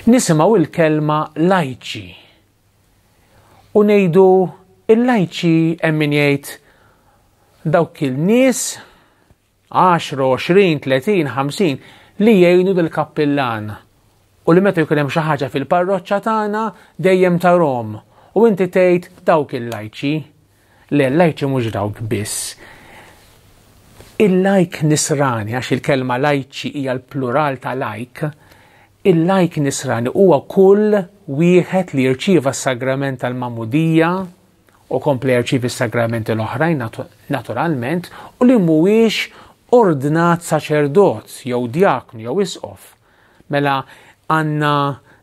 Nisimgħu il-kelma lajċi u ngħidu il-lajċi hemm min jgħid dawk il-nies 10, 20, 30, 50 li jgħinu dil kappillan u li meta jkun hemm xi ħaġa fil-parroċċa tagħna dejjem tarhom u inti tgħid dawk il-lajċi. Le, lajċi mhux dawk biss. Il-lajk nisrani, għax il-kelma lajċi hija l-plural ta' lajk, il-lajk nisrani huwa kull wieħed li jirċieva s-sagrament tal-mamudija u kompli jirċievi s-sagramenti l-oħrajn naturalment u li mhuwiex ordnat saċerdot jew djaknu jew isqof Mela għandna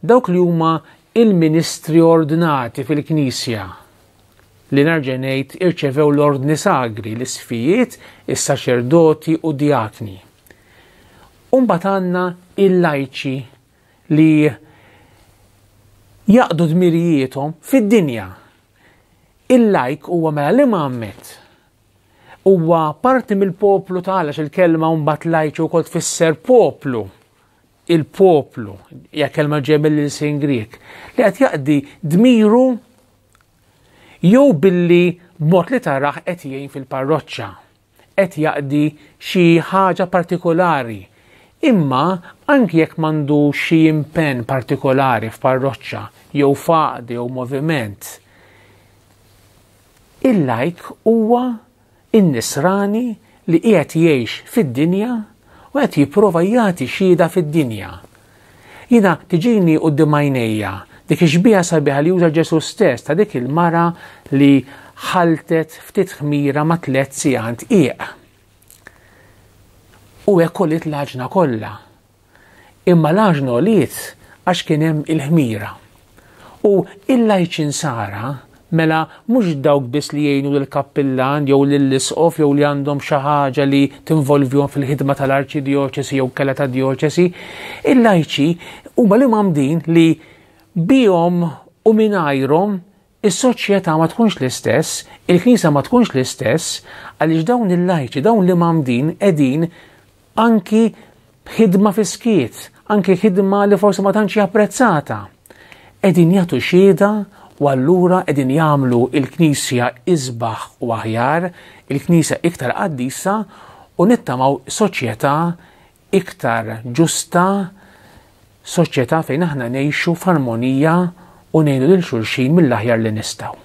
dawk li huma il-ministri ordnati fil-Knisja li nerġa' ngħid irċevew l-ordni sagri, l-isfijiet, is-saċerdoti u djakni. Umbagħad għandna il-lajċi li jaqdu dmirijiethom fid-dinja. Il-lajk huwa mela li ma għammet huwa parti mill-poplu ta' għalax il-kelma mbagħad lajċu wkoll tfisser poplu. Il-poplu, hija kelma ġej mill-ilsin Grieg, li qed jaqdi dmiru jew billi b'mod li taraħ qed jgħin fil-parroċċa, qed jaqdi xi ħaġa partikolari. Imma anki jekk m'għandu xi impenn partikolari f'parroċċa jew faqdi jew moviment, Il-lajk huwa in-nisrani li qiegħed jgħix fid-dinja u qed jipprova jagħti xhieda fid-dinja. Jiena tiġini quddiem għajnejja dik ix-xbieha sabiħa li juża Ġesù stess ta' dik il-mara li ħaltet ftit ħmira ma' tliet sigħant qiegħ. U hekk kollha. imma l-għaġn għoliet għax kien hemm il-ħmira. U il-lajċinsara, mela mhux dawk biss li jgħinu lill-kappillan jew lill-isqof jew li għandhom xi ħaġa li tinvolvihom fil-ħidma tal-arċidjoċesi jew kella ta' djoċesi, il-lajċi huma li mamdin li bihom u mingħajrhom Is-soċjetà ma tkunx l-istess, il-Knisja ma tkunx l-istess, għaliex dawn il-lajċi, dawn li mamdin qegħdin anki b'ħidma fiskiet, anki ħidma li forsi ma tantx japprezzata. Qegħdin jagħtu xieda u allura qegħdin jagħmlu il-Knisja isbaħ u aħjar, il-Knisja iktar qaddisa u nittamaw soċjetà iktar ġusta, soċjetà fejn aħna ngħixu f'armonija u ngħinu lil xulxin mill-aħjar li nistgħu.